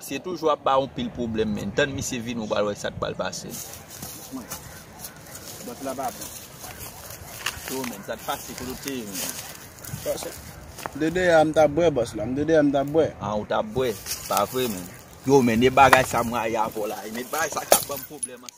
Se toujou ap ba yon pil pwoblèm menn. Tann misye vini ou pral wè sak pral pase. Dousman. Bòt la pa bon. Se ou menm. Sa t pase kote w te ye menm. Bòs la. De de a m tap bwè bòs la. M de de a m tap bwè. An ou tap bwè. Pa vre menm. Yo menn e bagay sa m rayi avè w la. E menn bagay sa kap banm pwoblèm an.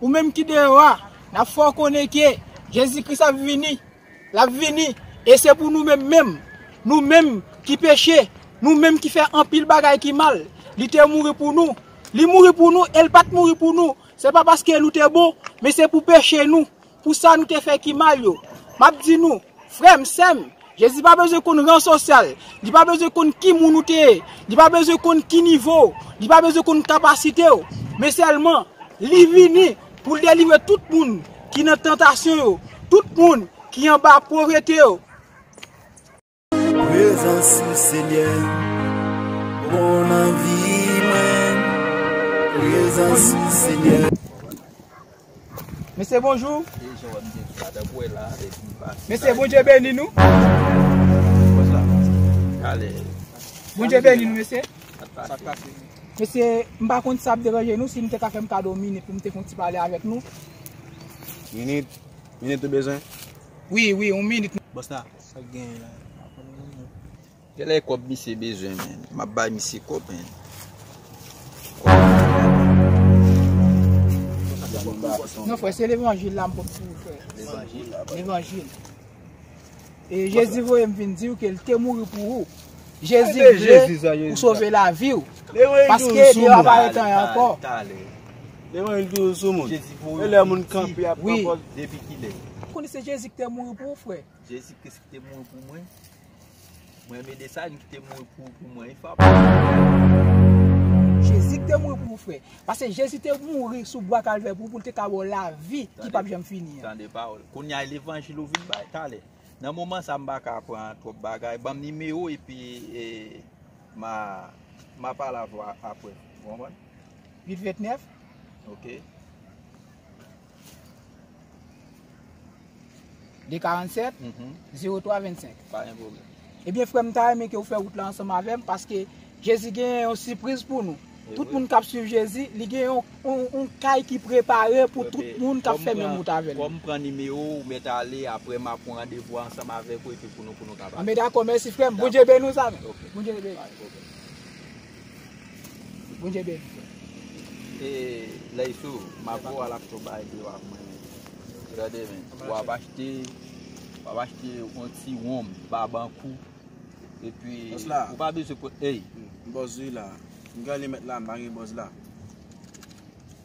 Ou menm ki deyò a, n ap fè w konnen ke Jezi Kris ap vini. L ap vini, e se pou nou menm menm, nou menm ki peche, nou menm ki fè anpil bagay ki mal, li te mouri pou nou. Li mouri pou nou e l pa t mouri pou nou, se pa paske nou te bon, men se pou peche nou, pou sa nou te fè ki mal yo. M ap di nou, Frèm, sèm, Jezi pa bezwen konn ran sosyal, li pa bezwen konn ki moun ou te ye, li pa bezwen konn ki nivo w, li pa bezwen konn kapasite w, men sèlman li vini pou l delivre tout moun ki nan tantasyon yo, tout moun ki anba povrete yo. Prezans ou Senyè bon nan vi mwen. Prezans ou Senyè. Mesye bonjou. Mesye bondye beni nou. Bondye beni nou mesye. Mesye m pa konn si sa ap deranje nou si nou te ka fè m kado yon minit pou m te fè yon ti pale avèk nou. Minit? Minit ou bezwen? Wi wi yon minit. Boss la, sa ki genyen la? Gèlè kòb misye bezwen menn. Map bay misye kòb menn. Kòb misye bezwen. Non frè se levanjil la m pot pou ou frè. Levanjil la. Levanjil. E jezi voye m vin diw ke l te mouri pou ou. Jezi vle ou sove lavi ou. Paske li va pa retan yon anko. Tale. Levanjil toujou sou moun. Jezi voye m. E lè moun kanpe ap kanpe. Depi ki lè. Ou konnen se jezi ki te mouri pou ou frè. Jezi kris ki te mouri pou mwen. Mwen mede sa yon ki te mouri pou pou mwen yon fap. Jezi ki te mouri pou ou frè. Pase Jezi te mouri sou bwa kalvè pou ou pou l te ka ba w lavi ki pap janm fini an. Tande pawòl. Kounya e levanjil ou vin bay talè. Nan moman sa m pa ka pran twòp bagay. Banm nimewo w epi e ma ma pale avè w aprè. Ou konprann? 8 29. Ok. 247 03 25 Pa gen pwoblèm. Ebyen frèm m ta renmen ke ou fè wout la ansanm avèm paske Jezi genyen yon sipriz pou nou. Tout moun kap swiv Jezi, li gen yon kay ki prepare pou tout moun kap fè menm wout avèl. Kòm m pran nimewo ou mèt ale aprè map pran randevou a ansanm avèk ou epi pou nou pou nou ka pale. Anben dakò mèsi frèm, Bondye beni w zanmi. Ok. Bondye beni w. Pa gen pwoblèm. Bondye beni frè. E ley sou mapou al ak to bay de wap mwen. Gade men. Wap achte wap achte yon ti wonm babankou. E pi ou pa bezwen pou ey. Bòz wi la. Mwen gade met la mba gen bòz la.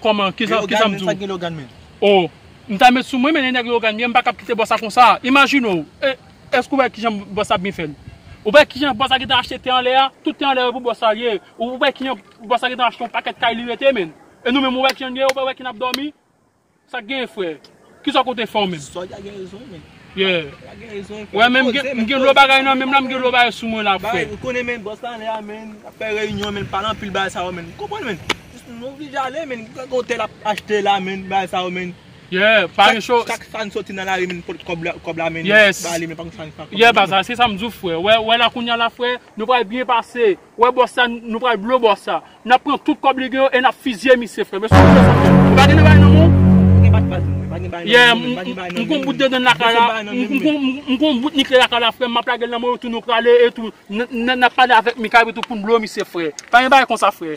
Koman kisa Leogane kisa m men di sa w? gen Leogane menm? Oh m ta met sou mwen men nèg Leogane mwen m pa kab kite bòs sa konsa imajine w e èske ou wè kijan bòs sa ap byen fè l ou wè kijan bòs sa gentan achte tè anlè a tout tè anlè yo pou bòs sa ye ou wè kijan bòs sa gentan achte yon pakèt kay li rete menn e nou menm ou wè kijan n ye ou pa wè kijan n ap dòmi sa k genyen frè. Kisa ke w te fè w menm? Solda gen rezon men. Yeah. Gen rezon. Wè men m gen lò bagay nan menm la, m gen lò bagay sou mwen la frè. Bagay ou konnen men bòs la anlè a men, ap fè reyinyon men, pale anpil bagay sa yo men. Ou konprann men? Jis nou oblije ale men, gen yon tèl ap achte la men, bagay sa yo men. Yeah, pa gen cho. Chak fwa n soti nan lari men n pot kòb la, kòb la men. Yes. Ba li men pa gen sa n fè ak kòb la. Yeah baz la, se sa m di w frè. Wè la kounya la frè, nou pral byen pase. Ou wè bòs sa nou pral blo bòs sa nap pran tout kòb li gen yo e nap fizye misye frèm eske ou bezwen kòb ou pa gen bagay nan menw yeah m konn bout dedan lakay la m konn bout nikle lakay la frèm map lagel nan menw etou nou prale etou nap pale avèk mikay etou poun blo misye frè pa gen bagay konsa frè.